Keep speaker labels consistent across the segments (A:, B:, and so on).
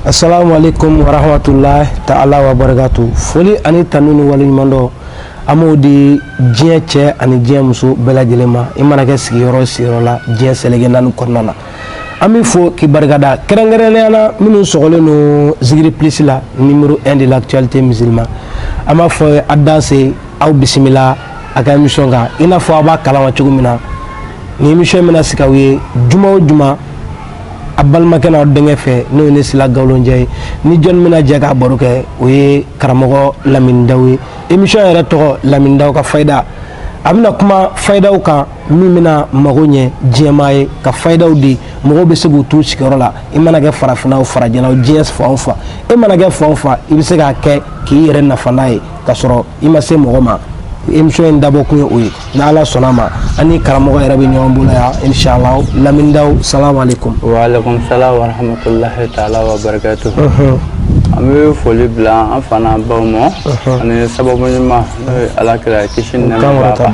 A: Asalaamu alekum waramatulayi ta ala wa barakatu foli ani tanu ni waleɲumandɔn an b'o di diɲɛ cɛ ani diɲɛ muso bɛɛ lajɛlen ma i mana kɛ sigiyɔrɔ sigiyɔrɔ la diɲɛ seleke naani kɔnɔna na an b'i fo k'i barikada kɛrɛnkɛrɛnnenya na minnu sɔgɔlen don Zikiri Plus la numéro un de l'actualité musulmane an b'a fɔ a danse aw bisimila a ka émission kan i n'a fɔ a b'a kalama cogo min na nin émission bɛna sigi aw ye juma o juma a balimakɛ n'aw denkɛ fɛ n'o ye ne sila galonjɛ ye ni jɔnni bɛna jɛ k'a baro kɛ o ye karamɔgɔ Lamini Dawu ye émission yɛrɛ tɔgɔ Lamini Dawu ka fayida a bɛna kuma fayidaw kan min bɛna mago ɲɛ diɲɛmaa ye ka fayidaw di mɔgɔw bɛ se k'u t'u sigiyɔrɔ la i mana kɛ farafinna o farajɛla o diɲɛ fan o fan i mana kɛ fan o fan i bɛ se k'a kɛ k'i yɛrɛ nafa n'a ye k'a sɔrɔ i ma se mɔgɔ ma émission in dabɔ kun ye o ye n'ala sɔnna a ma an ni karamɔgɔ yɛrɛ bɛ ɲɔgɔn bolo yan inshallah Lamini Dawu salamu alaikum wa alaikum
B: salam wa rahmatullahi ta'ala wa barakatuh an bɛ foli bila an fa n'an baw ma ani sababu ɲuman n'o ye ala kira kisi ni nɛɛma b'a kan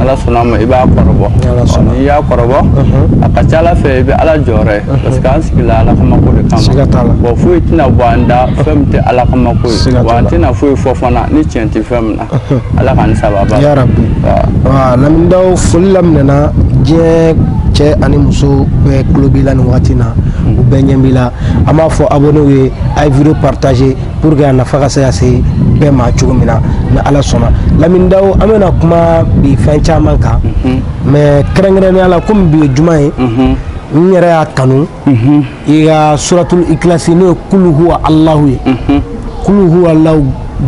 B: ala sɔnna ma i b'a kɔrɔbɔ n'i y'a kɔrɔbɔ a ka ca ala fɛ i bɛ ala jɔyɔrɔ ye parce que an sigila ala kama ko de kama bon foyi tɛna bɔ an da fɛn min tɛ ala kama ko ye wa an tɛna foyi fɔ fana ni tiɲɛ tɛ fɛn min na ala ka ni
A: sababa Lamini Dawu foli laminɛna diɲɛ cɛ ani muso bɛɛ tulo b'i la nin wagati na u bɛɛ ɲɛ b'i la an b'a fɔ abonnéw ye a ye vidéo partager pour que a nafa ka se ka se bɛɛ ma cogo min na ni ala sɔnna Lamini Dawu an bɛna kuma bi fɛn caman kan mais kɛrɛnkɛrɛnnenya la komi bi ye juma ye n yɛrɛ y'a kanu i ka suratul ikilasi n'o ye kulu huwa alahu ye kulu huwa alahu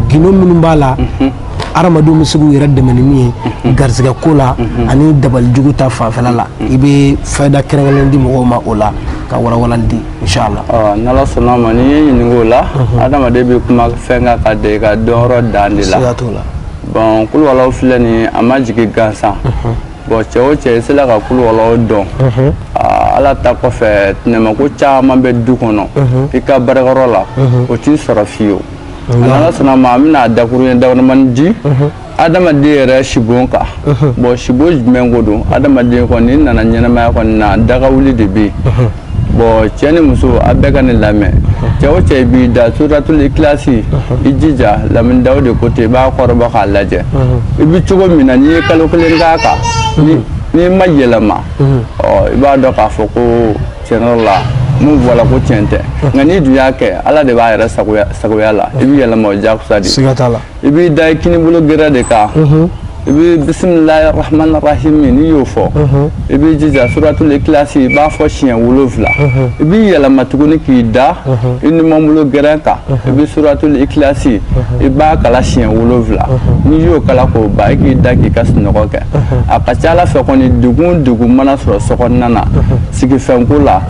A: gindo minnu b'a la adamadenw bɛ se k'u yɛrɛ dɛmɛ ni min ye garisɛgɛ ko la ani dabali jugu ta fanfɛla la i bɛ fayida kɛrɛnkɛrɛnnen di mɔgɔw ma o la ka walawalali di Ala sɔnna
B: ma n'i ye ɲininka o la adamaden bɛ kuma fɛn kan ka da i ka dɔnyɔrɔ dan de la bon kulu huwa alahu filɛ nin a ma jigin gansan bon cɛ o cɛ i sera ka kulu huwa alahu dɔn ala ta kɔfɛ tɛnɛmako caman bɛ du kɔnɔ i ka baarakɛyɔrɔ la o t'i sɔrɔ fiyewu n'ala sɔnna ma an bɛna a dakuruɲɛ damadamani di adamaden yɛrɛ sibon kan bon sibon jumɛn ko don adamaden kɔni i nana ɲɛnamaya kɔni na daga wuli de bɛ yen bon cɛ ni muso a bɛɛ ka ne lamɛn cɛ o cɛ b'i da suratul ikilasi i jija Lamini Dawu de ko ten i b'a kɔrɔbɔ k'a lajɛ i bɛ cogo min na n'i ye kalo kelen k'a kan n'i ma yɛlɛma ɔ i b'a dɔn k'a fɔ ko tiɲɛ la min fɔra ko tiɲɛ tɛ nka n'i dun y'a kɛ ala de b'a yɛrɛ sagoya la i bɛ yɛlɛma o jakusa de siga t'a la i b'i da i kinibolo gɛrɛ de kan i bɛ bisimilahi rahmani rahimi n'i y'o fɔ i b'i jija suratul ikilasi i b'a fɔ siɲɛ wolonwula i b'i yɛlɛma tuguni k'i da i numanbolo gɛrɛ kan i bɛ suratul ikilasi i b'a kala siɲɛ wolonwula n'i y'o kala k'o ban i k'i da k'i ka sunɔgɔ kɛ a ka ca ala fɛ kɔni degun degun mana sɔrɔ sokɔnɔna na sigifɛnko la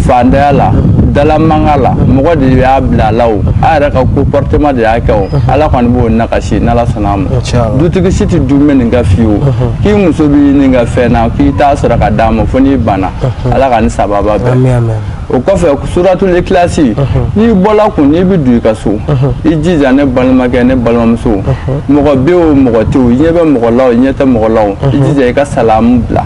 B: fantanya la dalamanga la mɔgɔ de y'a bila a la o a yɛrɛ ka comportement de y'a kɛ o ala kɔni b'o nakasi n'ala sɔnna a ma dutigi si tɛ dun bɛ nin ka fiyewu k'i muso bɛ nin ka fɛn na k'i t'a sɔrɔ ka d'a ma fo n'i banna ala ka ni sababa bɛɛ o kɔfɛ suratul ikilasi n'i bɔla kun n'i bɛ don i ka so i jija ne balimakɛ ne balimamuso mɔgɔ bɛ o mɔgɔ tɛ o i ɲɛ bɛ mɔgɔ la o i ɲɛ tɛ mɔgɔ la o i jija i ka salamu bila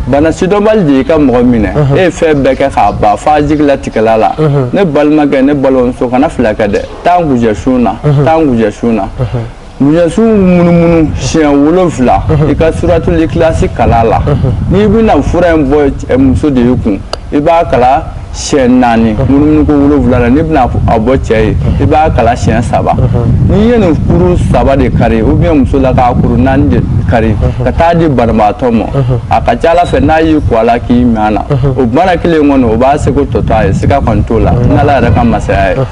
B: bana sidɔnbali de y'i ka mɔgɔ minɛ e ye fɛn bɛɛ kɛ k'a ban f'a jigilatigɛla la ne balimakɛ ne balimamuso kana fila kɛ dɛ taa ngujɛ sun na taa ngujɛ sun na ngujɛ sun munumunu siɲɛ wolonfila i ka suratul ikilasi kala la n'i bɛna fura in bɔ muso de ye kun i b'a kala siyɛn naani munumunu ko wolonwula la n'i bɛna a bɔ cɛ ye i b'a kala siyɛn saba n'i ye nin kuru saba de kari ou bien muso la ka kuru naani de kari ka taa di banabaatɔ ma a ka ca ala fɛ n'a y'i ko a la k'i min na o bana kelen kɔnɔ o b'a seko tɔtɔ a ye siga kɔni t'o la n'ala yɛrɛ ka masaya ye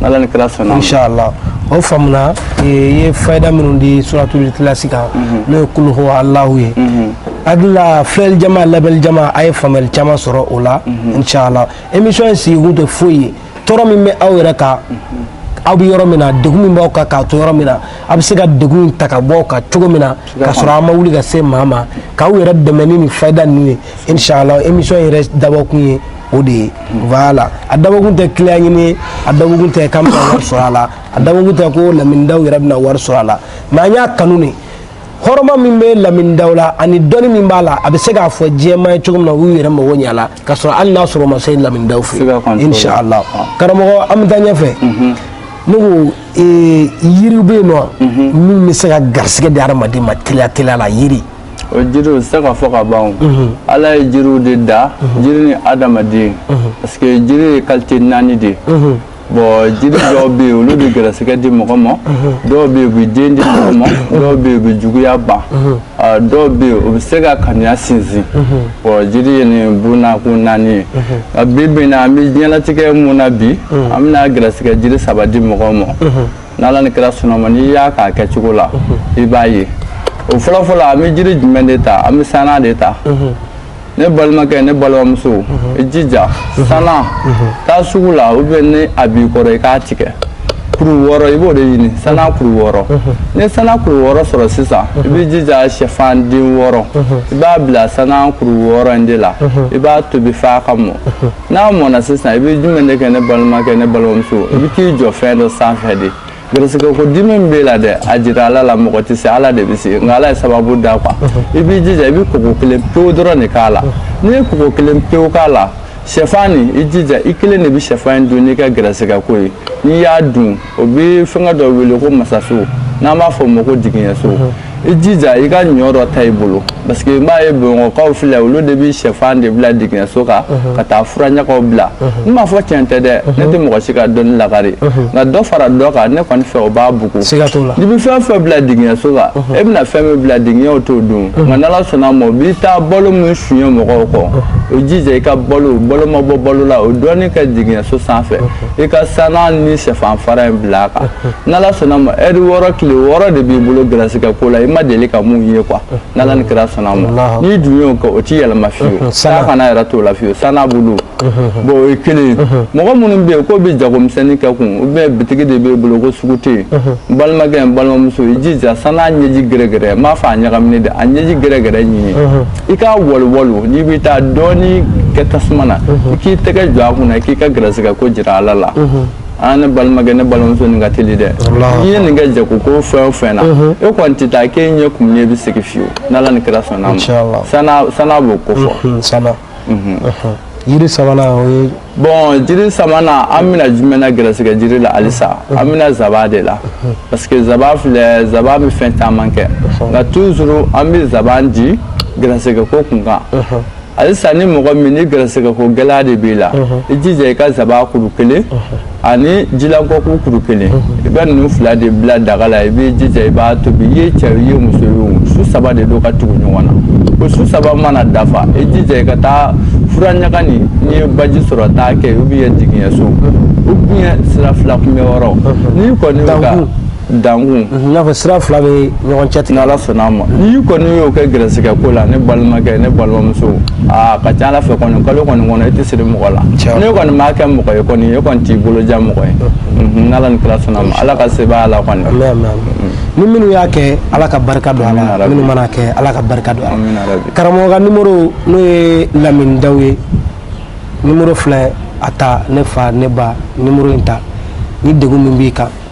B: n'ala ni kira sɔnna inshallah
A: o faamuna i ye fayida minnu di suratul ikilasi kan mhm. n'o ye kulu huwa alahu ye mhm. adula filɛli jama lamɛli jama a ye faamuyali caman sɔrɔ o la mhm. inshallah émission in sigikun tɛ foyi ye tɔɔrɔ min bɛ aw yɛrɛ kan aw bɛ yɔrɔ min na degun min b'aw kan k'a to yɔrɔ min na a bɛ se ka degun in ta ka bɔ aw kan cogo min na k'a sɔrɔ aw ma wuli ka se maa ma k'aw yɛrɛ dɛmɛ ni nin fayida ninnu ye inshallah émission yɛrɛ dabɔkun ye o de ye voilà a dabɔkun tɛ client ɲini ye a dabɔkun tɛ k'an bɛna wari sɔrɔ a la a dabɔkun tɛ ko lamin daw yɛrɛ bɛna wari sɔrɔ a la mais an y'a kanu de hɔrɔma min bɛ lamin daw la ani dɔnni min b'a la a bɛ se k'a fɔ diɲɛmaa ye cogo min na u y'u yɛrɛ mago ɲɛ a la k'a sɔrɔ hali n'a sɔrɔ u ma se lamin daw fɛ yen inshallah karamɔgɔ an bɛ taa ɲɛfɛ ne ko yiri bɛ yen nɔ min bɛ se ka garisigɛ di hadamaden ma teliya teliya la yiri o jiriw
B: se ka fɔ ka ban ala ye jiriw de da jiri ni adamaden parce que jiri ye qualité naani de bon jiri dɔw bɛ yen olu bɛ gɛrɛsɛgɛ di mɔgɔ ma dɔw bɛ yen u bɛ den di mɔgɔ ma dɔw bɛ yen u bɛ juguya ban dɔw bɛ yen u bɛ se ka kanuya sinsin bon jiri ye nin bunnakun naani ye nka bi bi in na an bɛ diɲɛlatigɛ min na bi an bɛna gɛrɛsɛgɛ jiri saba di mɔgɔw ma n'ala ni kira sɔnna ma n'i y'a k'a kɛcogo la i b'a ye o fɔlɔfɔlɔ an bɛ jiri jumɛn de ta an bɛ sana de ta ne balimakɛ ne balimamuso i jija sana ta sugu la ou bien ni a b'i kɔrɔ i k'a tigɛ kuru wɔɔrɔ i b'o de ɲini sana kuru wɔɔrɔ ni sana kuru wɔɔrɔ sɔrɔ sisan i b'i jija sɛfan den wɔɔrɔ i b'a bila sana kuru wɔɔrɔ in de la i b'a tobi f'a ka mɔ n'a mɔna sisan i bɛ jumɛn de kɛ ne balimakɛ ne balimamuso i bɛ t'i jɔ fɛn dɔ sanfɛ de garisigɛ ko dimi min b'e la dɛ a jira ala la mɔgɔ tɛ se ala de bɛ se nka ala ye sababu da quoi i b'i jija i bɛ kɔgɔ kelen pewu dɔrɔn de k'a la n'i ye kɔgɔ kelen pewu k'a la sɛfan nin i jija i kelen de bɛ sɛfan in dun n'i ka garisigɛ ko ye n'i y'a dun o bɛ fɛngɛ dɔ wele ko masaso n'an b'a fɔ o ma ko digiɲɛso i jija i ka ɲɔ dɔ ta i bolo parce que n b'a ye bamakɔkaw filɛ olu de bɛ sɛfan de bila digiɲɛso kan ka taa furaɲagaw bila n m'a fɔ tiɲɛ tɛ dɛ ne tɛ mɔgɔ si ka dɔnni lakari nka dɔ fara dɔ kan ne kɔni fɛ o b'a bugu n'i bɛ fɛn fɛn bila digiɲɛso kan e bɛna fɛn min bila digiɲɛw t'o dun nka n'ala sɔnna ma u bɛ taa balo min suɲɛ mɔgɔw kɔ i jija i ka balo balo ma bɔ balo la o dɔɔnin kɛ digiɲɛso sanfɛ i ka sana ni sɛfan fara in bila a kan n'ala sɔnna ma heure wɔɔrɔ tile wɔɔrɔ de b'i bolo garisigɛ ko la i ma deli ka mun ye quoi n'ala ni kira sɔnna ma n'i dun y'o kɛ o tɛ yɛlɛma fiyewu sanga kana yɛrɛ t'o la fiyewu sana bulu bon o ye kelen ye mɔgɔ minnu bɛ yen k'u bɛ jagomisɛnnin kɛ kun ou bien bitigi de b'e bolo ko sugu tɛ yen n balimakɛ n balimamuso i jija sana ɲɛji gɛrɛgɛrɛ n m'a fɔ a ɲagaminen dɛ a ɲɛji gɛrɛgɛrɛ ɲini i ka waliwalo n'i bɛ taa dɔɔni kɛ tasuma na i k'i tɛgɛ jɔ a kunna i k'i ka garisigɛ ko jira ala la aa ne balimakɛ ne balimamuso nin ka teli dɛ n'i ye nin kɛ jago ko fɛn o fɛn na e kɔni tɛ taa k'e ɲɛ kumunen bɛ segin fiyewu n'ala ni kira sɔnna a ma sana b'o ko fɔ
A: jiri sabanan o ye bon jiri
B: sabanan an bɛna jumɛn na gɛrɛsɛgɛ jiri la halisa an bɛna zaba de la parce que zaba filɛ zaba bɛ fɛn caman kɛ nka toujours an bɛ zaban di gɛrɛsɛgɛ ko kun kan halisa ni mɔgɔ min ni gɛrɛsɛgɛ ko gɛlɛya de b'i la i jija i ka zaba kuru kelen ani jilankɔku kuru kelen i bɛ ninnu fila de bila daga la i b'i jija i b'a tobi i ye cɛ i ye muso ye o su saba de don ka tugu ɲɔgɔn na o su saba mana dafa i jija i ka taa fura ɲaga nin n'i ye baji sɔrɔ taa kɛ ou bien digiɲɛso ou bien sira fila kunbɛn yɔrɔ n'i kɔni ka dankun mhm, n'a fɔ sira
A: fila bɛ ɲɔgɔn cɛtigɛ n'ala sɔnna a ma
B: n'i kɔni y'o kɛ gɛrɛsɛgɛ ko la ne balimakɛ ne balimamuso a ka ca ala fɛ kɔni kalo kɔni kɔnɔ i tɛ siri mɔgɔ la ne kɔni m'a kɛ mɔgɔ ye kɔni e kɔni t'i bolo ja mɔgɔ ye mhm. Mhm, n'ala ni kira sɔnna a ma ala ka sebaaya la kɔni
A: ni minnu y'a kɛ ala ka barika don a la minnu mana kɛ ala ka barika don a la karamɔgɔ ka nimoro n'o ye lamini daw ye nimoro filɛ a ta ne fa ne ba nimoro in ta ni degun min b'i kan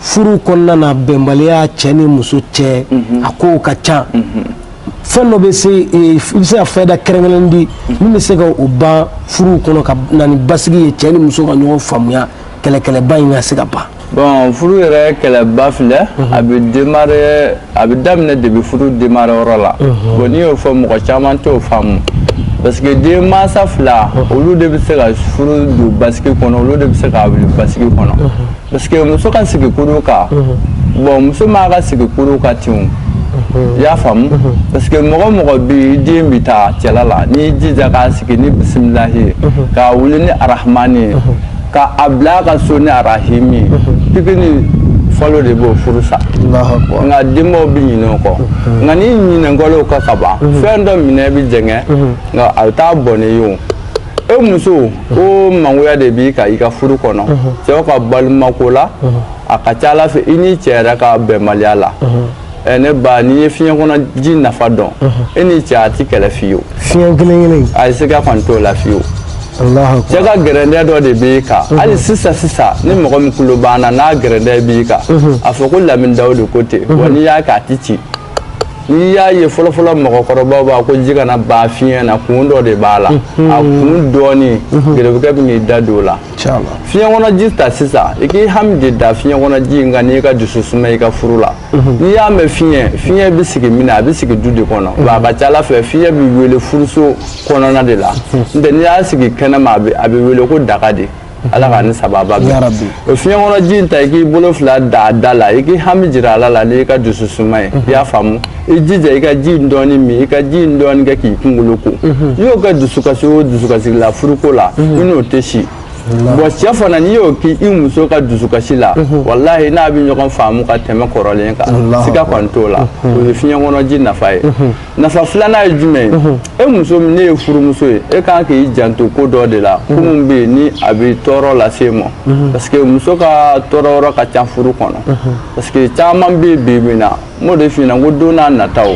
A: furu kɔnɔna na bɛnbaliya cɛ ni muso cɛ mhm. a kow ka ca mhm. fɛn dɔ bɛ se e, i bɛ se ka fɛda kɛrɛnkɛrɛn di mhm. min bɛ se ka o ban furuw kɔnɔ ka na ni basigi ye cɛ ni muso ka ɲɔgɔn faamuya kɛlɛkɛlɛba in ka se ka ban. bon furu yɛrɛ
B: kɛlɛba filɛ a bɛ démarrer a bɛ daminɛ depuis furu démarrer yɔrɔ la bon n'i y'o fɔ mɔgɔ caman t'o faamu parce que den mansa fila olu de bɛ se ka furu don basigi kɔnɔ olu de bɛ se ka wuli basigi kɔnɔ parce que muso ka sigi kurun kan bon muso man ka sigi kurun kan ten i y'a faamu parce que mɔgɔ mɔgɔ bɛ den bɛ taa cɛla la n'i jija k'a sigi ni bisimila ye k'a wuli ni arahamani ye ka a bila ka so ni arahimi pikini falo de b'o furu sa nka denbaw bɛ ɲinɛ o kɔ nka ni ɲinɛnkɔlew ka ka ban fɛn dɔ minɛ bɛ jɛngɛ nka a bɛ taa bon ne ye e muso ko mangoya de b'i kan i ka furu kɔnɔ cɛw ka balimako la a ka ca ala fɛ i ni cɛ yɛrɛ ka bɛnbaliya la ɛ ne ba n'i ye fiɲɛ kɔnɔ ji nafa dɔn e ni cɛ a ti kɛlɛ fiyewu fiɲɛ kelen kelen
A: in a ye siga kɔni t'o
B: la fiyewu alahu cɛ ka gɛrɛndɛ dɔ de b'i kan hali sisan sisan ni mɔgɔ min tulo b'an na n'a gɛrɛndɛ b'i kan a fɔ ko lamini daw de ko ten wa n'i y'a kɛ a ti ci n'i y'a ye fɔlɔfɔlɔ mɔgɔkɔrɔbaw b'a ko ji kana ban fiɲɛ na kun dɔ de b'a la a kun dɔɔni gɛrɛbukɛ bɛ n'i da don o la cala fiɲɛ kɔnɔ ji ta sisan i k'i hami de da fiɲɛ kɔnɔ ji in kan n'i ka dusu suma i ka furu la mhm. n'i y'a mɛn fiɲɛ fiɲɛ bɛ sigi min na a bɛ sigi du de kɔnɔ mhm. wa a ka ca ala fɛ fiɲɛ bɛ wele furuso kɔnɔna de la mhm. n'o tɛ n'i y'a sigi kɛnɛma a bɛ wele ko daga de ala k'an ni sababu bɛn o fiɲɛ kɔnɔ ji in ta i k'i bolo fila da a da la i k'i hami jira ala la n'i ka dusu suma ye i y'a faamu i jija i ka ji in dɔɔni min i ka ji in dɔɔni kɛ k'i kunkolo ko i y'o kɛ dusukasi o dusukasi la furuko la i n'o tɛ si bon cɛ fana n'i y'o kɛ i muso ka dusukasi la walahi n'a bɛ ɲɔgɔn faamu ka tɛmɛ kɔrɔlen kan siga kɔni t'o la o ye fiɲɛ kɔnɔ ji nafa ye nafa filanan ye jumɛn ye e muso n'e ye furumuso ye e kan k'i janto ko dɔ de la ko min bɛ yen ni a bɛ tɔɔrɔ lase i ma parce que muso ka tɔɔrɔ yɔrɔ ka ca furu kɔnɔ parce que caman bɛ yen bi bi in na n b'o de f'i ɲɛna ko don nataw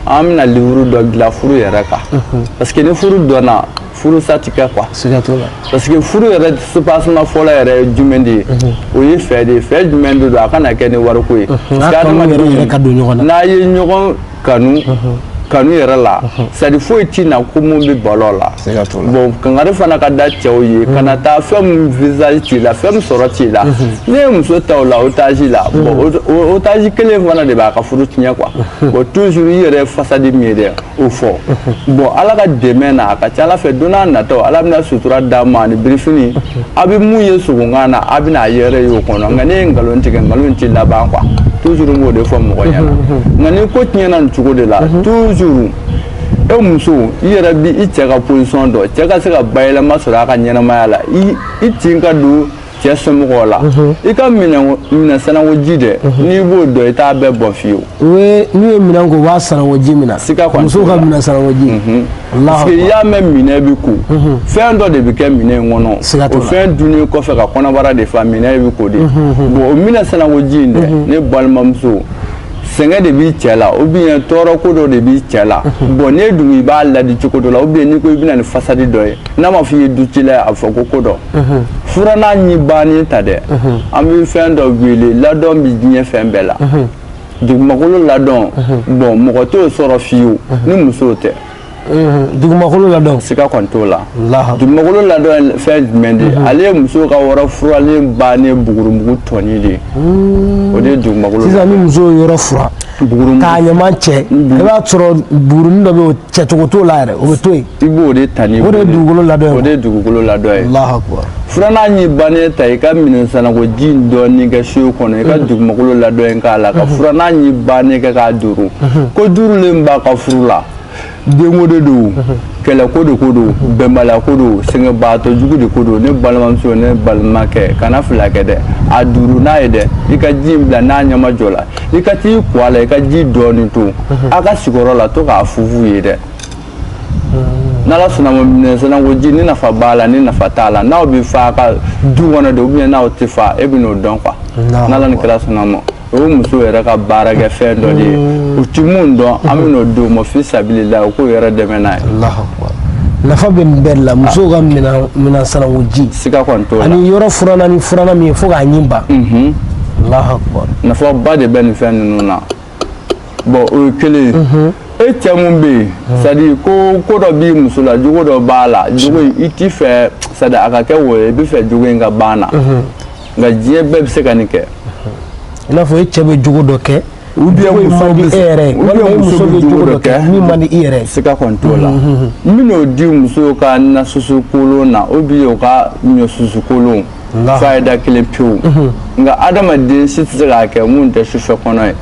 B: an bɛna livre dɔ dilan furu yɛrɛ kan parce que ni furu dɔnna furu sa ti kɛ quoi siga t'o la parce que furu yɛrɛ soubassement fɔlɔ yɛrɛ ye jumɛn de ye o ye fɛ de ye fɛ jumɛn de don a kana kɛ ni wariko ye n'a ye ɲɔgɔn kanu kanu yɛrɛ la c'est-à-dire foyi ti na ko mun bɛ balo la bon kangari fana ka da cɛw ye kana taa fɛn min visage t'i la fɛn min sɔrɔ t'i la n'e ye muso ta o la otage la bon otage kelen fana de b'a ka furu tiɲɛ quoi bon toujours i yɛrɛ façade min ye dɛ o fɔ bon ala ka dɛmɛ na a ka ca ala fɛ don n'a natɔ ala bɛna sutura d'a ma ani birifini a bɛ mun ye sogokan na a bɛna a yɛrɛ ye o kɔnɔ nka n'i ye nkalon tigɛ nkalon tɛ laban quoi toujours n b'o de fɔ mɔgɔ ɲɛna nka ni ko tiɲɛna nin cogo de la toujours e muso i yɛrɛ bi i cɛ ka position dɔn cɛ ka se ka bayɛlɛma sɔrɔ a ka ɲɛnamaya la i tin ka don cɛ somɔgɔw la i ka minɛn sanangoji dɛ n'i b'o dɔn i t'a bɛɛ bɔn fiyewu n'u ye
A: minɛn ko u b'a sanango ji min na musow ka minɛn sanangoji parce que i
B: y'a mɛn minɛn bɛ ko fɛn dɔ de bɛ kɛ minɛn in kɔnɔ o fɛn dunnen kɔfɛ ka kɔnɔbara de fa minɛn bɛ ko de bon o minɛn sanangoji in dɛ ne balimamuso sɛgɛn de b'i cɛ la ou bien tɔɔrɔ ko dɔ de b'i cɛ la bon n'i dun i b'a ladi cogo dɔ la ou bien n'i ko i bɛ na ni fasadi dɔ ye n'a ma fɔ i ye du cila ye a bɛ fɔ ko ko dɔ furannan ɲin bannen ta dɛ an bɛ fɛn dɔ wele ladɔn bɛ diɲɛ fɛn bɛɛ la dugumakolo ladɔn bon mɔgɔ t'o sɔrɔ fiyewu ni musow tɛ dugumakolo
A: ladɔn siga kɔni t'o la
B: dugumakolo ladɔn fɛn jumɛn de ale ye muso ka yɔrɔ furalen bannen bugurumugu tɔnin de ye o de ye dugumakolo sisan ni muso ye yɔrɔ
A: fura k'a ɲama cɛ i b'a sɔrɔ bugurunin dɔ bɛ yen cɛcogo t'o la yɛrɛ o bɛ to yen i b'o de ta ni o
B: de ye dugukolo ladɔn
A: ye
B: o
A: de ye dugukolo
B: ladɔn ye Alahu akubar furannan ɲin bannen ta i ka minɛn sanangoji in dɔɔni kɛ seau kɔnɔ i ka mhm. dugumakolo ladɔn in k'a la ka mhm. furannan ɲin bannen kɛ k'a duuru mhm. ko duurulen b'a ka furu la denko de don kɛlɛko de ko don bɛnbaliyako don sɛgɛnbaatɔ jugu de ko don ne balimamuso ne balimakɛ kana fila kɛ dɛ a duuru n'a ye dɛ i ka ji in bila n'a ɲama jɔ la i ka t'i ko a la i ka ji dɔɔni to a ka sigiyɔrɔ la to k'a funfun yen dɛ n'ala sɔnna ma minɛn sanangoji ni nafa b'a la ni nafa t'a la n'aw bɛ fa ka du kɔnɔ de ou bien n'aw tɛ fa e bɛn'o dɔn quoi n'ala ni kira sɔnna ma o ye muso yɛrɛ ka baarakɛ fɛn dɔ de ye u ti mun dɔn an bɛn'o di u ma fi sabilila u k'u yɛrɛ dɛmɛ n'a ye
A: nafa bɛ nin bɛɛ la musow ka minɛn sanangoji siga kɔni t'o la ani
B: yɔrɔ furanna ni
A: furannan min ye fo k'a ɲin ban nafa ba de bɛ nin
B: fɛn ninnu na bon o ye kelen ye mhm. e cɛ mun bɛ yen mhm. c'est à dire ko dɔ b'i muso la jogo dɔ b'a la jogo in i t'i fɛ c'est à dire a ka kɛ wo ye i bɛ fɛ jogo in ka ban na mhm. nka diɲɛ bɛɛ bɛ se ka nin kɛ i
A: n'a fɔ e cɛ bɛ jogo dɔ kɛ ou
B: bien muso bɛ e yɛrɛ ou bien muso bɛ
A: jogo dɔ kɛ min man di i yɛrɛ ye siga kɔni t'o la n
B: bɛn'o di muso ka nasusu kolon na ou bien o ka ɲɔsusu kolon fayida kelen pewu nka adamaden si tɛ se k'a kɛ mun tɛ sufɛ
A: kɔnɔ ye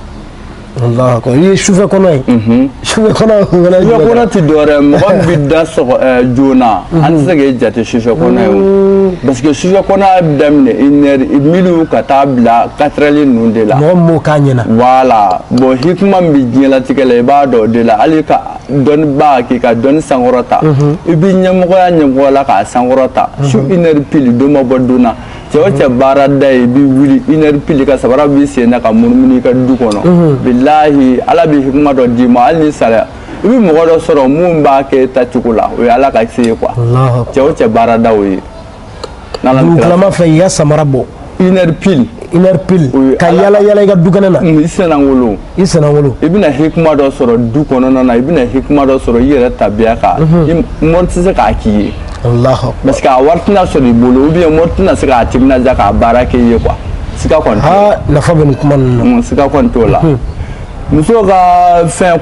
A: i ye sufɛ kɔnɔ ye sufɛ kɔnɔ sufɛ kɔnɔ tɛ dɔwɛrɛ
B: mɔgɔ min bɛ da sɔgɔ joona an tɛ se k'e jate sufɛ kɔnɔ ye o parce que sufɛ kɔnɔya bɛ daminɛ une heure minuit ka taa bila quatre heures ninnu de la mɔgɔ min m'o k'a ɲɛna
A: voilà bon
B: hikima min bɛ diɲɛlatigɛ la i b'a dɔn o de la hali ka dɔnnibaa k'i ka dɔnni sankɔrɔta mhm. i bɛ ɲɛmɔgɔya ɲɛmɔgɔ la k'a sankɔrɔta mhm. su une heure pile don ma bɔ don na cɛ o cɛ baarada ye i bɛ wuli une heure pile ka sabara b'i sen na ka munumunu i ka du kɔnɔ mhm. bilahi ala bɛ hikima dɔ d'i ma hali ni sariya i bɛ mɔgɔ dɔ sɔrɔ mun b'a kɛ tacogo la o ye ala ka se ye quoi cɛ o cɛ baarada o ye
A: dugutalama fɛ i ka samara bɔ une heure
B: pile une heure pile
A: ka yala yala i ka du kɛnɛ na i
B: sennakolon i sennakolon i bɛna hikima dɔ sɔrɔ du kɔnɔna na i bɛna hikima dɔ sɔrɔ i yɛrɛ tabiya kan mhm. mori tɛ se k'a k'i ye parce que a wari tɛna sɔrɔ i bolo ou bien mori tɛna se k'a timinadiya k'a baara kɛ i ye quoi siga kɔni nafa bɛ nin kuma
A: ninnu na siga kɔni t'o la
B: mhm. muso ka fɛn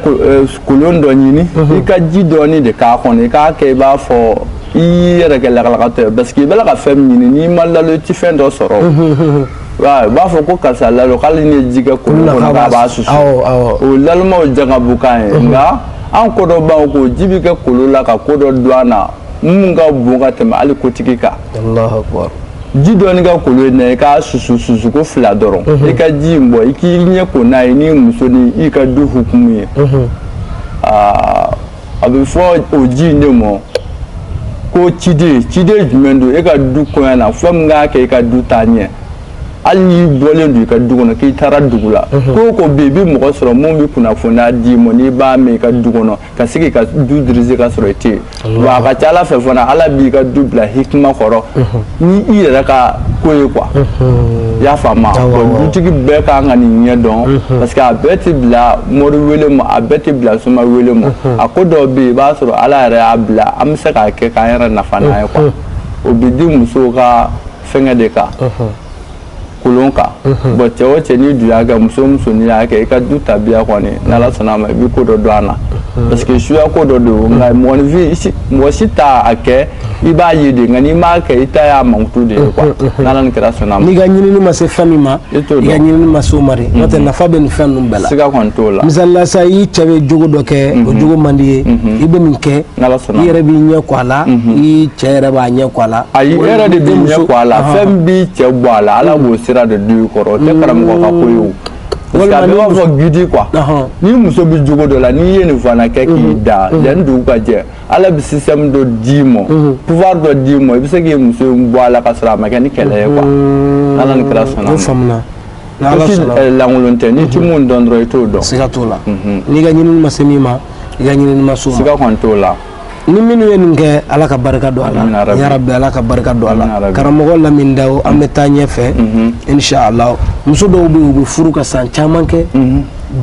B: kolon dɔ ɲini mhm. i ka ji dɔɔni de k'a kɔnɔ i k'a kɛ i b'a fɔ i y'i yɛrɛ kɛ lagalagatɔ ye parce que i b'a la ka fɛn min ɲini n'i ma nalon i ti fɛn dɔ sɔrɔ u b'a fɔ ko karisa nalon k'ale nin ye ji kɛ kolon kɔnɔ k'a b'a susu o nalonmaw jangabu kan ye nka an ko dɔ b'an ko ji bɛ kɛ kolon la ka ko dɔ don an na mun ka bon ka tɛmɛ hali kotigi kan ji dɔɔni kɛ kolon in na i k'a susu susu ko fila dɔrɔn i ka ji in bɔ i k'i ɲɛ ko n'a ye n'i muso ni i ka du hukumu ye aa a bɛ fɔ o ji in de ma ko ciden ciden jumɛn don e ka du koɲɛ na fɛn min k'a kɛ i ka du taa ɲɛ hali n'i bɔlen don i ka du kɔnɔ k'i taara dugu la mhm. ko o ko bɛ yen i bɛ mɔgɔ sɔrɔ mun bɛ kunnafoniya d'i ma n'i b'a mɛn i ka du kɔnɔ ka se k'i ka du diriger ka sɔrɔ i tɛ yen wa a ka ca ala fɛ fana ala b'i ka du bila hikima kɔrɔ mhm. ni i yɛrɛ ka ko ye quoi i y'a faamu dutigi bɛɛ ka kan ka nin ɲɛ dɔn parce que a bɛɛ tɛ bila mori wele ma a bɛɛ tɛ bila soma wele ma a ko dɔw bɛ yen i b'a sɔrɔ ala yɛrɛ y'a bila an bɛ se k'a kɛ k'an yɛrɛ nafa n'a ye quoi o bɛ di musow ka fɛnkɛ de kan. kolon kan bon cɛ o cɛ n'i dun y'a kɛ muso o muso n'i y'a kɛ i ka du tabiya kɔni n'ala sɔnna a ma i bɛ ko dɔ dɔn a la parce que suya ko dɔ don nka mɔgɔninfin mɔgɔ si t'a kɛ i b'a ye de nka n'i m'a kɛ i ta y'a mankutu de ye quoi n'ala ni kira sɔnna a ma n'i ka ɲinini ma se fɛn min ma i t'o dɔn i ka ɲinini ma se o ma de n'o tɛ nafa bɛ nin fɛn ninnu bɛɛ la siga kɔni t'o la misali la sa i cɛ bɛ jogo dɔ kɛ o jogo man d'i ye i bɛ nin kɛ i yɛrɛ b'i ɲɛ ko a la i cɛ yɛrɛ b'a ɲɛ ko a la ayi i yɛrɛ de b'i ɲɛ ko a la fɛn b'i cɛ bɔ a la ala b'o sira de d'i kɔrɔ o tɛ karamɔgɔ ka ko ye b'a fɔ gidi quoi n'i muso bɛ jogo dɔ la n'i ye nin fana kɛ k'i da yanni dugu ka jɛ ala bɛ système dɔ d'i ma pouvoir dɔ d'i ma i bɛ se k'i muso bɔ a la ka sɔrɔ a ma kɛ ni kɛlɛ ye quoi ala ni kira sɔnna lankolon tɛ n'i tɛ min dɔn dɔrɔn i t'o dɔn siga t'o la n'i ka ɲinini ma se min ma i ka ɲinini ma s'o ma siga kɔni t'o la ni minnu ye nin kɛ ala ka barika don a la ya rabi ala ka barika don a la karamɔgɔ lamini dawo an bɛ taa ɲɛ fɛ inshallah muso dɔw bɛ u bɛ furu ka san caman kɛ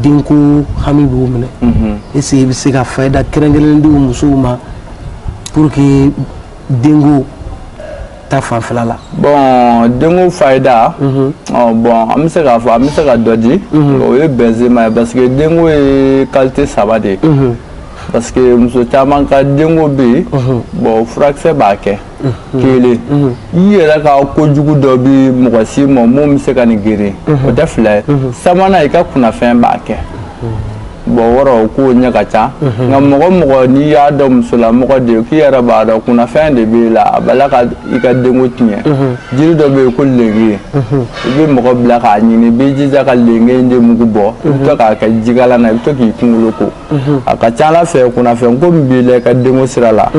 B: denko hami b'u minɛ est-ce que i bɛ se ka fayida kɛrɛnkɛrɛnnen di musow ma pour que denko ta fanfɛla la bɔn denko fayida mhm. bɔn an bɛ se k'a fɔ an bɛ se ka dɔ di mhm. o ye bɛnzema ye parce que denko ye qualité saba de ye mhm. parce que muso caman ka denko bɛ yen bɔn furakisɛ b'a kɛ kelen i yɛrɛ ka kojugu dɔ bɛ mɔgɔ si ma mun bɛ se ka nin geren o tɛ fila ye sabanan i ka kunnafɛn b'a kɛ Bon o rɔ koɲɛ ka ca nka mɔgɔ o mɔgɔ n'i y'a dɔn musolamɔgɔ de k'i yɛrɛ b'a dɔn kunnafɛn de b'i la a bala ka i ka denko tiɲɛ jiri dɔ bɛ yen ko lenge i bɛ mɔgɔ bila k'a ɲini i bɛ jija ka lenge in de mugu bɔ i bɛ to k'a kɛ jikalan na i bɛ to k'i kunkolo ko a ka ca ala fɛ kunnafɛn ko min b'i la i ka denko sira la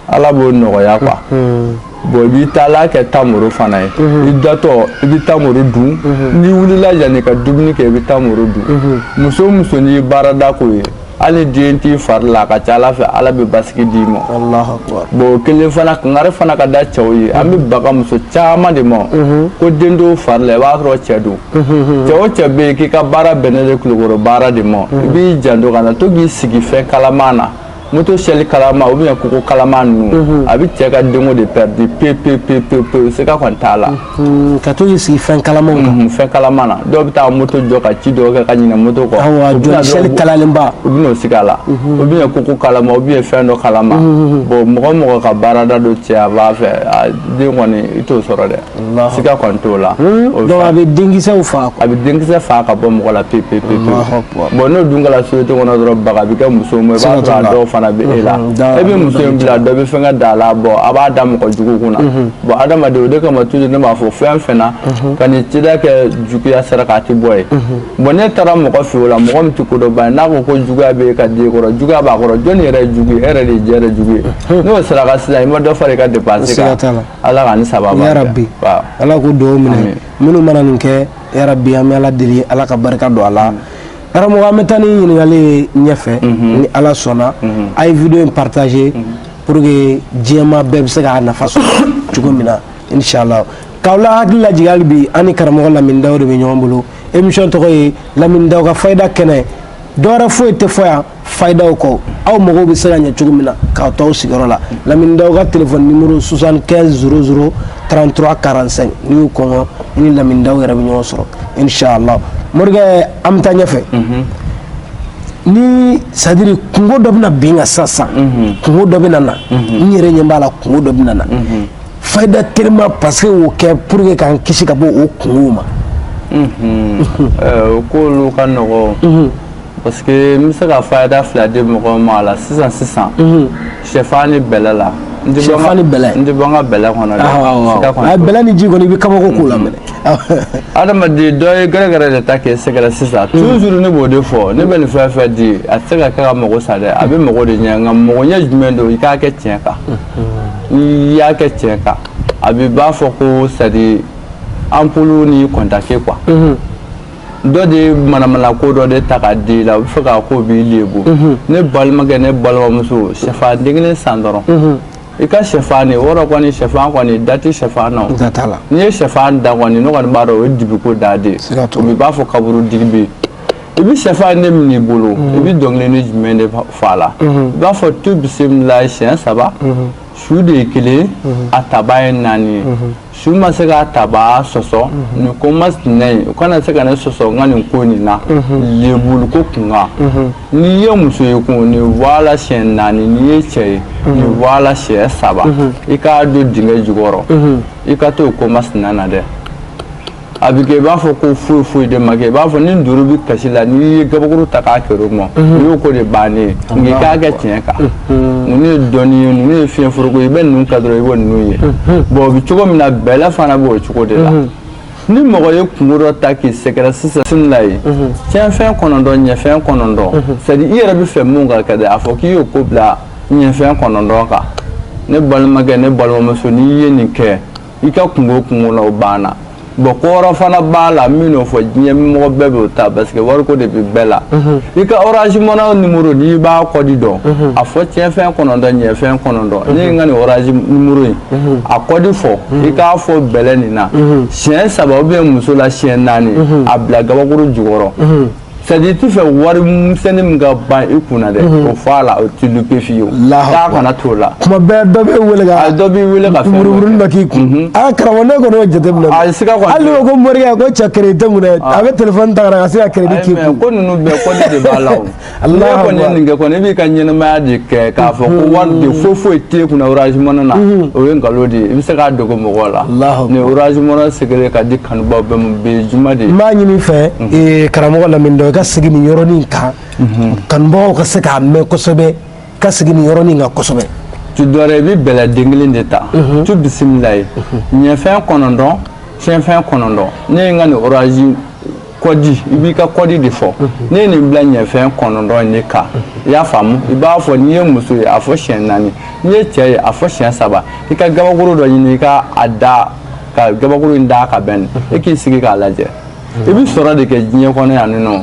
B: ala b'o nɔgɔya quoi bɔn i b'i taala kɛ tamoro fana ye mhm. i datɔ i bɛ tamoro dun mhm. n'i wulila yanni i ka dumuni kɛ i bɛ tamoro dun mhm. muso o muso n'i ye baarada k'o ye hali den t'i fari la a ka ca ala fɛ ala bɛ basigi d'i ma bɔn o kelen fana kangari fana ka da cɛw ye an bɛ baga muso caman de ma ko den t'u fari la i b'a sɔrɔ cɛ don cɛ o cɛ bɛ yen k'i ka baara bɛnnen de kulukɔrɔ baara de ma i b'i janto kana to k'i sigi fɛn kalaman na moto sɛli kalama ou bien koko kalama ninnu mhm. a bɛ cɛ ka denko de pɛridi pe pe pe pe pe siga kɔni t'a la mhm. ka to k'i sigi
A: fɛn kalamaw kan mhm, fɛn kalama na dɔw bɛ
B: taa moto jɔ ka ci dɔw kɛ ka ɲinɛ moto kɔ awa jɔli
A: sɛli kalalenba u bɛ n'u sigi a
B: la ou bien koko kalama ou bien fɛn dɔ kalama bon mɔgɔ o mɔgɔ ka baarada don cɛ a b'a fɛ a den kɔni i t'o sɔrɔ dɛ siga kɔni t'o la donc a
A: bɛ denkisɛw faga a bɛ denkisɛ faga
B: ka bɔ mɔgɔ la pewu pewu pewu bon n'o dun kɛra société kɔnɔ dɔrɔn baga bɛ kɛ muso ma i b'a sɔrɔ a dɔw fana bɛ e la e bɛ muso in bila dɔ bɛ fɛn ka da a la bɔn a b'a da mɔgɔ jugu kunna bɔn adamaden o de kama toujours ne b'a fɔ fɛn o fɛn na kana i cida kɛ juguya saraka de bɔ ye bɔn n'e taara mɔgɔ fɛ o la mɔgɔ min tɛ kodɔnba ye n'a ko ko juguya bɛ e ka den kɔrɔ juguya b'a kɔrɔ jɔni yɛrɛ ye jugu ye e yɛrɛ de ye i yɛrɛ jugu ye n'o saraka sisan i ma dɔ fara i ka dépense kan Ala ka nin sabati ya rabi
A: ala k'o duwawu minɛ minnu mana nin kɛ ya rabi an bɛ ala deli ala ka barika don a la karamɔgɔ an bɛ taa ni ɲininkali ye ɲɛfɛ ni ala sɔnna a ye vidéo in partager pour que jama bɛɛ bɛ se k'a nafa sɔrɔ cogo min na inshallah k'aw la hakili lajigin hali bi an ni karamɔgɔ lamini dawo de bɛ ɲɔgɔn bolo émission tɔgɔ ye lamini dawo ka fayida kɛnɛ dɔwɛrɛ foyi tɛ fɔ yan fayidaw kɔ aw mago bɛ se ka ɲɛ cogo min na k'aw to aw sigiyɔrɔ la lamini dawu ka telefɔni nimoro 75 00 33 45 n'i y'o kɔngɔ i ni lamini dawu yɛrɛ bɛ ɲɔgɔn sɔrɔ inshallah morikɛ an bɛ taa ɲɛfɛ mhm. ni c'est à dire kungo dɔ bɛna bin n kan sisan sisan mhm. kungo dɔ bɛna na mhm. n yɛrɛ ɲɛ b'a la kungo dɔ bɛna na fayida telima parce que o kɛ pour que k'an kisi ka bɔ o kungow ma
B: o k'olu ka nɔgɔ parce que n bɛ se ka fayida fila di mɔgɔw ma a la sisan sisan sɛfan ni bɛlɛ la n tɛ bɔ n
A: ka n tɛ bɔ n ka bɛlɛ kɔnɔ
B: dɛ sika kɔnɔ a bɛlɛ ni ji kɔni i bɛ
A: kabako k'o la mais ni adamaden
B: dɔ ye gɛrɛgɛrɛ de ta k'i sɛgɛrɛ sisan toujours ne b'o de fɔ ne bɛ nin fɛn fɛn di a tɛ se ka kɛ ka mago sa dɛ a bɛ mago de ɲɛ nka mago ɲɛ jumɛn don i k'a kɛ tiɲɛ kan n'i y'a kɛ tiɲɛ kan a bɛ i b'a fɔ ko c'est à dire ampoule ni contact quoi. dɔ de ye manamana ko dɔ de ta k'a d'i la u b'a fɛ k'a ko b'i lebu mhm. ne balimakɛ ne balimamuso sɛfan den kelen san dɔrɔn mhm. i ka sɛfan de wɔrɔ kɔni sɛfan kɔni da tɛ sɛfan na n'i ye sɛfan da kɔni ne kɔni b'a dɔn o ye dibiko da de ye o b'i b'a fɔ kaburu dingɛ bɛ yen i bɛ sɛfan de minɛ i bolo mhm. i bɛ dɔnkili nin jumɛn de fɔ a la i b'a fɔ tu bisimila siɲɛ saba su de ye kelen a tabaa ye naani ye su ma se k'a tabaa sɔsɔ nin ko masina ye u kana se ka ne sɔsɔ n ka nin ko nin na lebu ko kunkan n'i ye muso ye kun nin voilà siɲɛ naani n'i ye cɛ ye nin voilà siɲɛ saba i k'a don dingɛ jukɔrɔ i ka to o ko masina na dɛ a bɛ kɛ i b'a fɔ ko foyi foyi de ma kɛ i b'a fɔ ni wulu bɛ kasi la n'i ye gabakuru ta k'a kɛr'o ma o y'o ko de bannen ye nka i k'a kɛ tiɲɛ kan ninnu ye dɔnni ye ninnu ye fiɲɛ foroko ye i bɛ ninnu kɛ dɔrɔn i b'o ninnu ye bɔn o bɛ cogo min na bɛlɛ fana b'o cogo de la ni mɔgɔ ye kungo dɔ ta k'i sɛgɛrɛ sisan sini la ye tiɲɛfɛn kɔnɔntɔn ɲɛfɛn kɔnɔntɔn c'est à dire i yɛrɛ b'a fɛ mun ka kɛ dɛ a fɔ k'i y'o ko bila ɲɛfɛn kɔnɔntɔn kan ne balimakɛ ne balimamuso n'i ye nin kɛ i ka kungo kungo na o banna bon kɔrɔ fana b'a la min n'o fɔ diɲɛ mɔgɔ bɛɛ b'o ta parce que wariko de bɛ bɛɛ la mhm. i ka orange money nimoro n'i b'a kɔdi dɔn mhm. a fɔ tiɲɛfɛn kɔnɔntɔn ɲɛfɛn kɔnɔntɔn mhm. ne ye n ka nin orange nimoro in a kɔdi fɔ i k'a fɔ bɛlɛ nin na siɲɛ saba ou bien muso la siɲɛ naani a bila gabakuru jukɔrɔ c'est à dire i t'a fɛ wari misɛnnin min ka ban i kun na dɛ o fɔ a la o tɛ louper fiyewu k'a kana t'o la tuma bɛɛ dɔ b'i wele
A: ka dɔ b'i wele ka
B: buruburunin dɔ k'i kun
A: a karamɔgɔ ne kɔni y'o jateminɛ a sika kɔni hali n'o ko morikɛ ko cɛ crédit tɛ n kun dɛ a bɛ telefɔni ta ka na ka se ka crédit k'i kun ko ninnu bɛɛ kɔdi
B: de b'a la o n'e kɔni ye nin kɛ kɔni i b'i ka ɲɛnamaya de kɛ k'a fɔ ko wari de foyi foyi t'e kunna orange money na o ye nkalon de ye i bɛ se k'a dogo mɔgɔw la ni orange money sigilen ka
A: di Kanubaw
B: bɛ mun
A: bɛ
B: juma
A: de
B: maa ɲini i fɛ ee
A: karamɔgɔ
B: Lamini Dawu i
A: ka segin ni yɔrɔnin kan kanubagaw ka se k'a mɛn kosɛbɛ ka segin ni yɔrɔnin kan kosɛbɛ tu dɔrɔn i bɛ
B: bɛlɛ den kelen de ta tu bisimila ye ɲɛfɛn kɔnɔntɔn cɛfɛn kɔnɔntɔn ne ye n ka nin oranzi kɔdi i b'i ka kɔdi de fɔ ne ye nin bila ɲɛfɛn kɔnɔntɔn in de kan i y'a faamumu i b'a fɔ n'i ye muso ye a fɔ siɲɛ naani n'i ye cɛ ye a fɔ siɲɛ saba i ka gabakuru dɔ ɲini i ka a da ka gabakuru in da ka bɛn e k'i sigi k'a lajɛ i bɛ sɔrɔ de kɛ diɲɛ kɔnɔ yan nin nɔ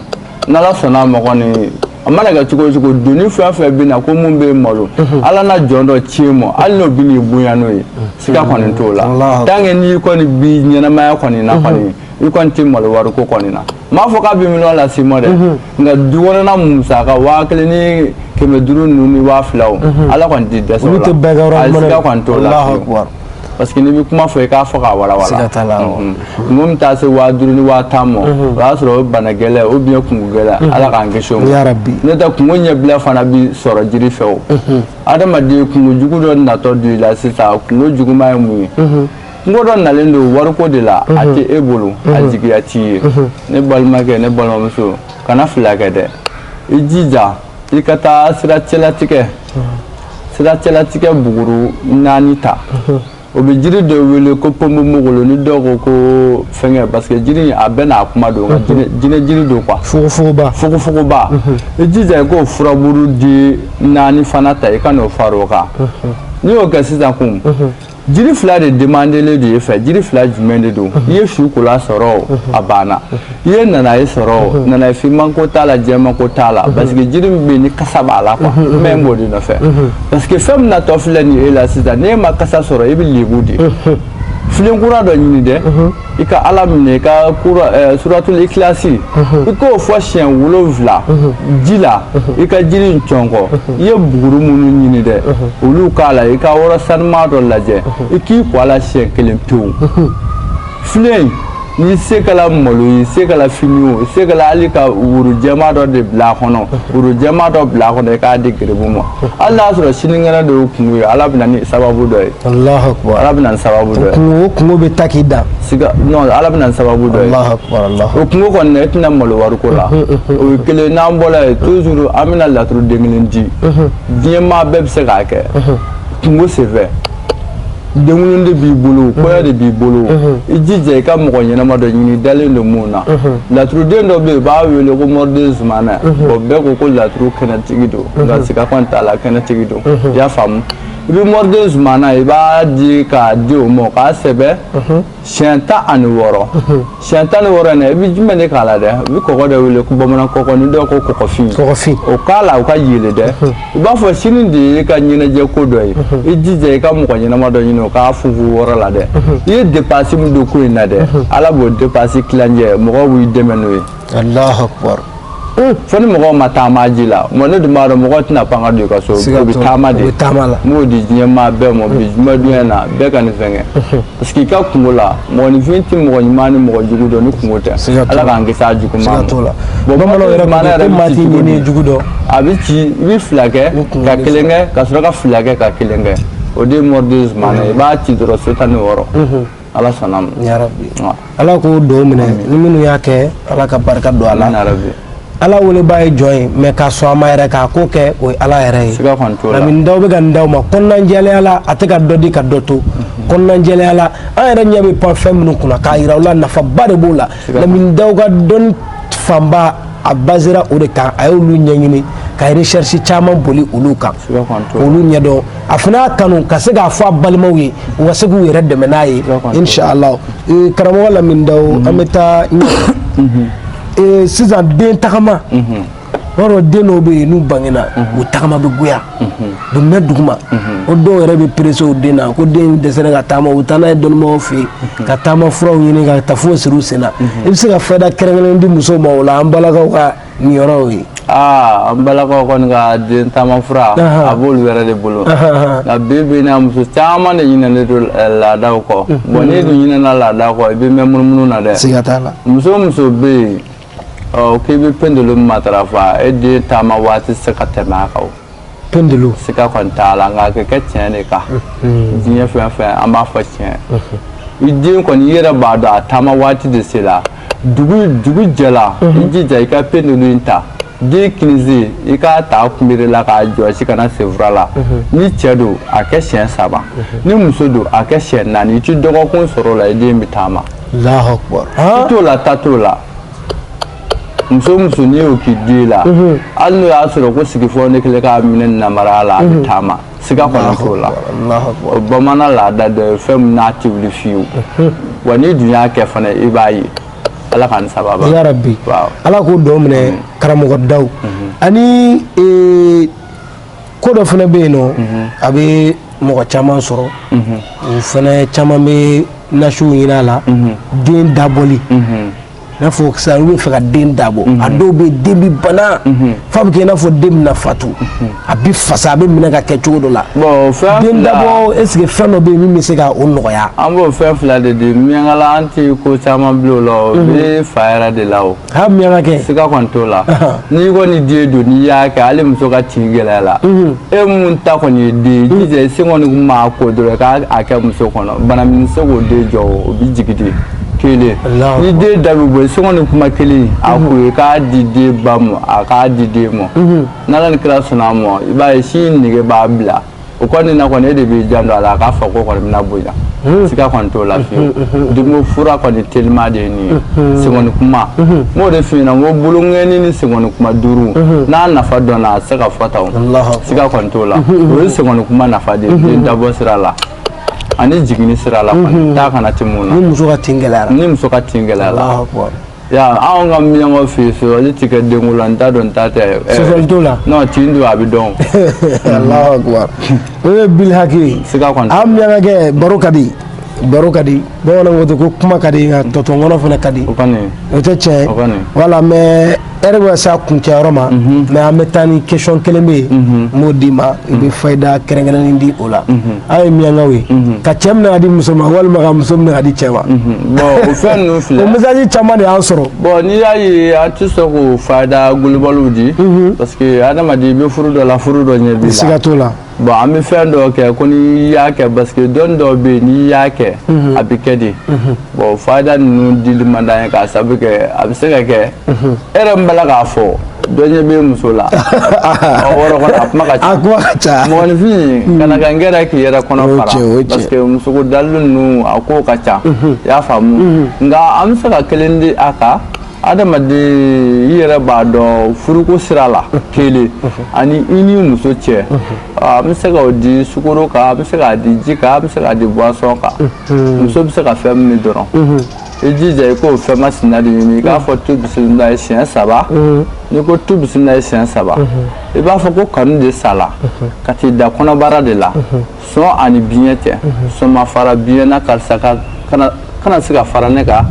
B: n'ala sɔnna a ma kɔni a mana kɛ cogo o cogo doni fɛn fɛn bɛ na ko mun bɛ malo mhm. ala na jɔn dɔ ci i ma hali n'o bɛ n'i bonya n'o ye mhm. siga kɔni t'o la tant que n'i kɔni bi ɲɛnamaya kɔni na mhm. kɔni i kɔni tɛ malo wariko kɔni na n m'a fɔ k'a bɛ miliyɔn lase i ma dɛ nka du kɔnɔna musaka waa kelen ni kɛmɛ duuru ninnu ni waa fila o ala kɔni tɛ dɛsɛ o la a siga kɔni t'o la parce que n'i bɛ kuma fɔ i k'a fɔ k'a walawala siga t'a la awɔ. kungo min taa se waa duuru ni waa tan ma o y'a sɔrɔ o ye bana gɛlɛn ou bien kungo gɛlɛn ala k'an kisi o ma Ya Rabbi. n'o tɛ kungo ɲɛbila fana bi sɔrɔ jiri fɛ o adamaden kungo jugu dɔ natɔ don i la sisan kungo juguman ye mun ye kungo dɔ nalen don wariko de la a tɛ e bolo a jigiya t'i ye ne balimakɛ ne balimamuso kana fila kɛ dɛ i jija i ka taa siracɛlatigɛ siracɛlatigɛ buguru naani ta o bɛ jiri dɔ wele ko ponponpogolo ni dɔw ko ko fɛngɛ parce que jiri a bɛɛ n'a kuma don nka jinɛ jiri don quoi fogofogoba fogofogoba i jija i k'o furaburu di naani fana ta i ka n'o fara o kan n'i y'o kɛ sisan kun jiri fila de demandelen don i fɛ jiri fila jumɛn de don i ye sukɔla sɔrɔ a banna i ye nanaye sɔrɔ nanaye finman ko t'a la jɛman ko t'a la parce que jiri min bɛ yen ni kasa b'a la quoi mais n b'o de nɔfɛ parce que fɛn min natɔ filɛ nin ye e la sisan n'e ma kasa sɔrɔ e bɛ lebu de filen kura dɔ ɲini dɛ i ka ala minɛ i ka eh, suratul ikilasi mhm. i k'o fɔ siɲɛ wolonwula mhm. ji la mhm. i ka jiri in cɔnkɔ i ye buguru minnu ɲini dɛ olu k'a la i ka yɔrɔ sanuman dɔ lajɛ i k'i ko a la siɲɛ kelen pewu filen n'i se kɛla malo ye i se kɛla fini o i se kɛla hali ka woro jɛman dɔ de bila a kɔnɔ woro jɛman dɔ bila a kɔnɔ i k'a di garibu ma hali n'a sɔrɔ sinikɛnɛ de y'o kungo ye ala bɛna ni sababu dɔ ye Alahu akbar Ala bɛna ni sababu dɔ ye. Kungo o kungo bɛ taa k'i
A: dan. Siga non Ala
B: bɛna ni sababu dɔ ye. Alahu akbar Alahu. O kungo kɔni na i tɛna malo wariko la. O ye kelen n'an bɔra yen toujours an bɛna laturu den kelen di. Diɲɛ maa bɛɛ bɛ se k'a kɛ. Kungo senfɛ. denwolo de b'i bolo mhm. kɔɲɔ de b'i bolo mhm. i jija i ka mɔgɔ ɲɛnama dɔ ɲini i dalen don min na mhm. laturuden dɔ bɛ yen u b'a wele ko mɔriden zumana bɔn bɛɛ ko ko laturu kɛnɛtigi don nka siga t'a la kɛnɛtigi don i y'a faamu mɔriden zumana i b'a di k'a di o ma k'a sɛbɛn siyɛn tan ani wɔɔrɔ siyɛn tan ni wɔɔrɔ in na i bɛ jumɛn de k'a la dɛ u bɛ kɔgɔ de wele ko bamanan kɔkɔ ni dɔw ko kɔkɔfin kɔkɔfin o k'a la o ka yeelen dɛ i b'a fɔ sini de y'i ka ɲɛnajɛ ko don ye i jija i ka mɔgɔ ɲɛnama dɔ ɲini o k'a funfun yɔrɔ la dɛ i ye depansi min don ko in na dɛ ala b'o depansi tilancɛ mɔgɔw b'i dɛmɛ n'o ye alahu akubar
A: fo
B: ni mɔgɔw ma taama ji la mais ne dun b'a dɔn mɔgɔ tɛna pan ka don i ka so u bɛ taama de n b'o di diɲɛmaa bɛɛ ma bi jumadon in na bɛɛ ka nin fɛn kɛ parce que i ka kunko la mɔgɔninfin tɛ mɔgɔ ɲuman ni mɔgɔ jugu dɔn ni kunko tɛ ala k'an kisi a jugu ma bon bamananw
A: yɛrɛ ko maa t'i ɲini jugu dɔn a bɛ ci i
B: bɛ fila kɛ ka kelen kɛ ka sɔrɔ ka fila kɛ ka kelen kɛ o de ye mɔriden zumana i b'a ci dɔrɔn so tan ni wɔɔrɔ ala sɔnna yarabi
A: ala k'o duwaw minɛ ni minnu y'a kɛ ala ka barika don a la ala welebaa ye jɔn ye mais ka sɔn a ma yɛrɛ k'a ko kɛ o ye ala yɛrɛ ye lamini daw bɛ ka nin d'aw ma kɔnɔnajɛlenya la a tɛ ka dɔ di ka dɔ to mhm. kɔnɔnajɛlenya la an yɛrɛ ɲɛ bɛ pan fɛn minnu kunna k'a yira u la nafaba de b'o la lamini daw ka dɔnni fanba a basera o de kan a y'olu ɲɛɲini ka recherche caman boli olu kan olu ɲɛdɔn a fana y'a kanu ka se k'a fɔ a balimaw ye u ka se k'u yɛrɛ dɛmɛ n'a ye inshallah eh, karamɔgɔ lamini daw mhm. an bɛ taa mhm. eh, sisan den tagama mhm. b'a dɔn den dɔw bɛ yen n'u bangena u tagama bɛ goya u bɛ mɛn duguma o dɔw yɛrɛ bɛ perese o den na ko den dɛsɛra ka taama u taa n'a ye dɔnnibagaw fɛ yen ka taama furaw ɲini ka tafo siri u sen na i bɛ se ka fɛɛrɛ kɛrɛnkɛrɛnnen di musow ma o la an balakaw ka nin yɔrɔw ye aa an
B: balakaw kɔni ka den taama fura a b'olu yɛrɛ de bolo nka bi bi in muso caman de ɲinɛnen don eh, laadaw kɔ mhm. bon n'i dun ɲinɛna laadaw kɔ i bɛ mɛn munumunu na dɛ siga t'a la muso
A: o muso
B: bɛ yen k'i bɛ pendulu matarafa e den taama waati tɛ se ka tɛmɛ a kan pendulu
A: siga kɔni t'a
B: la nka a kɛ tiɲɛ de kan diɲɛ fɛn fɛn an b'a fɔ tiɲɛ i den kɔni i yɛrɛ b'a dɔn a taama waati de sera dugu jɛla i jija i ka pendulu in ta den kinisen i k'a ta kunbere la k'a jɔsi ka na senfura la ni cɛ don a kɛ siɲɛ saba ni muso don a kɛ siɲɛ naani i ti dɔgɔkun sɔrɔ o la i den bɛ taama i
A: t'o la ta t'o
B: la muso muso n'i y'o k'i den la mhm. hali n'o y'a sɔrɔ ko sigifɔ ne kelen k'a minɛ nabara la a bɛ mhm. taama siga kɔni t'o la o bamanan laada dɔ ye fɛn min n'a tɛ wuli fiyewu mhm. wa n'i dun y'a kɛ fana i b'a ye ala k'an sababa ya
A: rabbi ala k'o duwaw minɛ karamɔgɔ daw ani e, ko dɔ fana bɛ yen nɔ a bɛ mɔgɔ caman sɔrɔ o fana caman bɛ nasiw ɲin'a la den dabɔli n'a fɔ sisan olu bɛ fɛ ka den dabɔ a dɔw bɛ yen den bɛ bana f'a bɛ kɛ i n'a fɔ den bɛna fatu a bɛ fasa a bɛ minɛ ka kɛ cogo dɔ la den dabɔ est ce que fɛn dɔ bɛ yen min bɛ se ka o nɔgɔya. an b'o fɛn fila de
B: di miyankala an tɛ ko caman bila o la o bɛ fa yɛrɛ de la o. ha miyanka kɛ.
A: siga kɔni t'o
B: la n'i kɔni den don n'i y'a kɛ hali muso ka tin gɛlɛyala e mun ta kɔni ye den ye jija i se kɔni maa ko dɔrɔn k'a kɛ muso kɔnɔ bana min se k'o den jɔ o bɛ jigin de. kelen ni den da bɛ bɔ sɛgɛnni kuma kelen a ko ye k'a di den ba ma a k'a di den ma n'ala ni kira sɔnna a ma i b'a ye sin nege b'a bila o kɔni na kɔni e de b'i janto a la a k'a fɔ ko kɔni bɛna bonya siga kɔni t'o la fiyewu denko fura kɔni telima de ye nin ye sɛgɛnni kuma n b'o de f'i ɲɛna n ko bolonkɛni ni sɛgɛnni kuma duuru n'a nafa dɔnna a tɛ se ka fɔ tan o siga kɔni t'o la o ye sɛgɛnni kuma nafa de ye den dabɔ sira la ani jiginni sira la kɔni taa kana ti mun na ni muso ka tin gɛlɛyara
A: ni muso ka tin gɛlɛyara Allahu
B: akbar. ya anw ka miyankaw fɛ yen sɔsɔli tɛ kɛ denko la n ta don n ta tɛ eh, Sɔsɔli t'o la?
A: non tin don a bɛ
B: dɔn
A: Allahu akbar. o ye bilhaki ye Siga kɔni t'a la. an miyanka
B: kɛ baro
A: ka di baro ka di bamananw ko ten ko kuma ka di nka tɔ to n kɔnɔ fana ka di o kɔni o tɛ
B: tiɲɛ ye
A: o kɔni voilà mais ɛri bɛ se a kuncɛyɔrɔ ma mais an bɛ taa ni question kelen bɛ yen n b'o d'i ma i bɛ fayida kɛrɛnkɛrɛnnen di o la an ye miyankaw ye ka cɛ minɛ ka di muso ma walima ka muso minɛ ka di cɛ ma bon o
B: fɛn ninnu filɛ o message caman
A: de y'an sɔrɔ bon n'i y'a ye
B: an tɛ sɔn k'o fayida golobaliw di parce que adamaden i bɛ furu dɔ la furu dɔ ɲɛ b'i la siga t'o la bon
A: an bɛ fɛn
B: dɔ kɛ ko n'i y'a kɛ parce que dɔnni dɔw bɛ yen n'i y'a kɛ mhm. a bɛ kɛ de mhm. bon fayida ninnu dili man d'an ye k'a sababu kɛ a bɛ se ka kɛ mhm. e yɛrɛ min b'a la k'a fɔ dɔ ɲɛ bɛ muso la o yɔrɔ kɔnɔ a kuma ka ca a kuma ka ca mɔgɔninfin hmm. kana kɛ nkɛrɛn k'i yɛrɛ kɔnɔ fara parce que musoko dalilu ninnu a kow ka ca i y'a faamu hmm. nka an bɛ se ka kelen di a kan. adamaden i yɛrɛ b'a dɔn furuko sira la kelen ani i ni muso cɛ an bɛ se k'o di sukoro kan an bɛ se k'a di ji kan an bɛ se k'a di boisson kan muso bɛ se ka fɛn min min dɔrɔn i jija i k'o fɛn masina de ɲini i k'a fɔ tu bisimila ye siɲɛ saba n'i ko tu bisimila ye siɲɛ saba i b'a fɔ ko kanu de sala ka t'i da kɔnɔbara de la sɔn ani biɲɛ cɛ sɔn ma fara biɲɛ na karisa ka kana kana se ka fara ne kan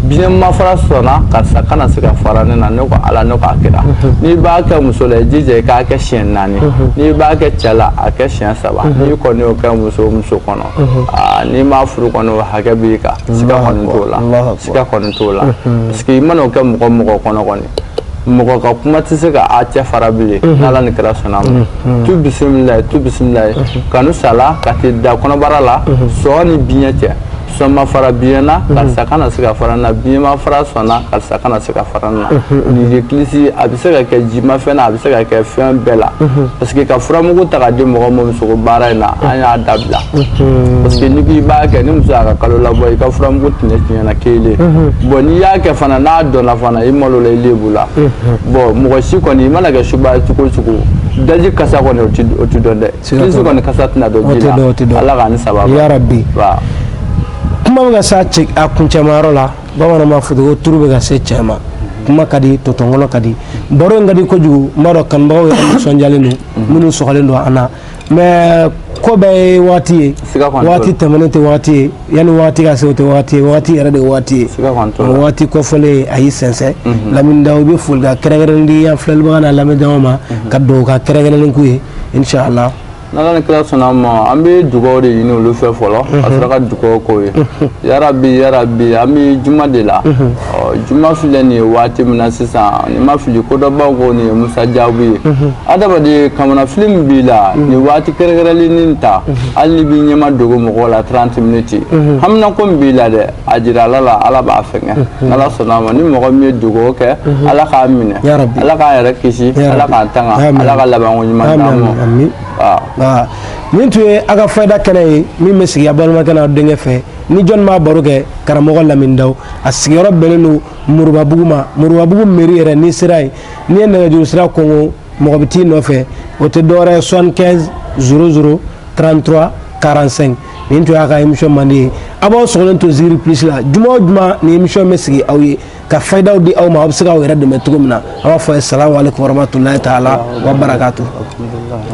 B: biɲɛ ma fara sɔn na karisa kana se ka fara ne na ne ko ala ne k'a kira n'i b'a kɛ muso la i jija i k'a kɛ siɲɛ naani n'i b'a kɛ cɛ la a kɛ siɲɛ saba n'i kɔni y'o kɛ muso muso kɔnɔ aa n'i m'a furu kɔni o hakɛ b'i kan siga kɔni t'o la Allahu akbar. siga kɔni t'o la parce que i mana o kɛ mɔgɔ mɔgɔ kɔnɔ kɔni mɔgɔ ka kuma tɛ se ka a cɛ fara bilen n'ala ni kira sɔnna ma tu bisimilayi tu bisimilayi kanu sala ka t'i da kɔnɔbara la sɔn ni biɲɛ cɛ sɔn ma fara biɲɛ na karisa kana se ka fara n na biɲɛ ma fara sɔn na karisa kana se ka fara n na nin ye kilisi a bɛ se ka kɛ jimafɛn na a bɛ se ka kɛ fɛn bɛɛ la parce que ka furamugu ta ka di mɔgɔ ma musoko baara in na an y'a dabila parce que n'i k'i b'a kɛ ni muso y'a ka kalo labɔ i ka furamugu tɛnɛ tiɲɛna kelen bon n'i y'a kɛ fana n'a dɔnna fana i malola i lebula bon mɔgɔ si kɔni i mana kɛ suba cogo o cogo daji kasa kɔni o ti dɔn dɛ kilisi kɔni kasa tɛna dɔn ji la ala k'an ni saba
A: yarabi kuma bɛ ka s'a cɛ a kuncɛmayɔrɔ la bamananw b'a fɔ ko turu bɛ ka se cɛ ma kuma ka di tɔtɔnkɔnɔ ka di baro in ka di kojugu n b'a dɔn kanubagaw yɛrɛ nisɔndiyalen don minnu sɔgɔlen don an na mais ko bɛɛ ye waati ye waati tɛmɛnen tɛ waati ye yanni waati ka se o tɛ waati ye waati yɛrɛ de ye waati ye waati kɔfɔlen a y'i sɛnsɛn mhm. lamini daw bɛ foli ka kɛrɛnkɛrɛnnen di an filɛlibaga n'a lamɛnjama ma mhm. ka dugawu ka kɛrɛnkɛrɛnnen k'u ye inshallah n'ala ni
B: kira sɔnna ma an bɛ dugawu de ɲini olu fɛ fɔlɔ ka mhm. sɔrɔ ka dugawu k'u ye yarabi yarabi an bɛ juma de la ɔ juma filɛ nin ye waati min na sisan ni n ma fili kodɔnbaw ko nin ye musajabu ye mhm. adamaden kamanafili min b'i la mhm. nin waati kɛrɛnkɛrɛnlen nin ta mhm. hali n'i b'i ɲɛmadogo mɔgɔw la 30 miniti haminako min b'i la dɛ a jira ala la ala b'a fɛnkɛ n'ala sɔnna a ma ni mɔgɔ min ye dugawu kɛ ala k'a minɛ ala k'a yɛrɛ kisi ala k'a tanga ala ka labanko ɲuman d'a ma nin tun ye a ka fayida
A: kɛnɛ ye min bɛ sigi a balimakɛ n'a denkɛ fɛ ni jɔnni b'a baro kɛ karamɔgɔ lamini daw a sigiyɔrɔ bɛnnen don moribabugu ma moribabugu meri yɛrɛ n'i sera yen n'i ye nɛgɛjuru sira kɔngɔ mɔgɔ bɛ t'i nɔfɛ o tɛ dɔwɛrɛ ye soixante quinze zéro zéro trente trois quarante cinq nin tun y'a ka émission mandi ye a b'aw sɔgɔlen to zikiri plus la juma o juma nin émission bɛ sigi aw ye ka fayidaw di aw ma aw bɛ se k'aw yɛrɛ dɛmɛ cogo min na an b'a fɔ a ye salamu aleykum warahmatulahi taala wa barakatu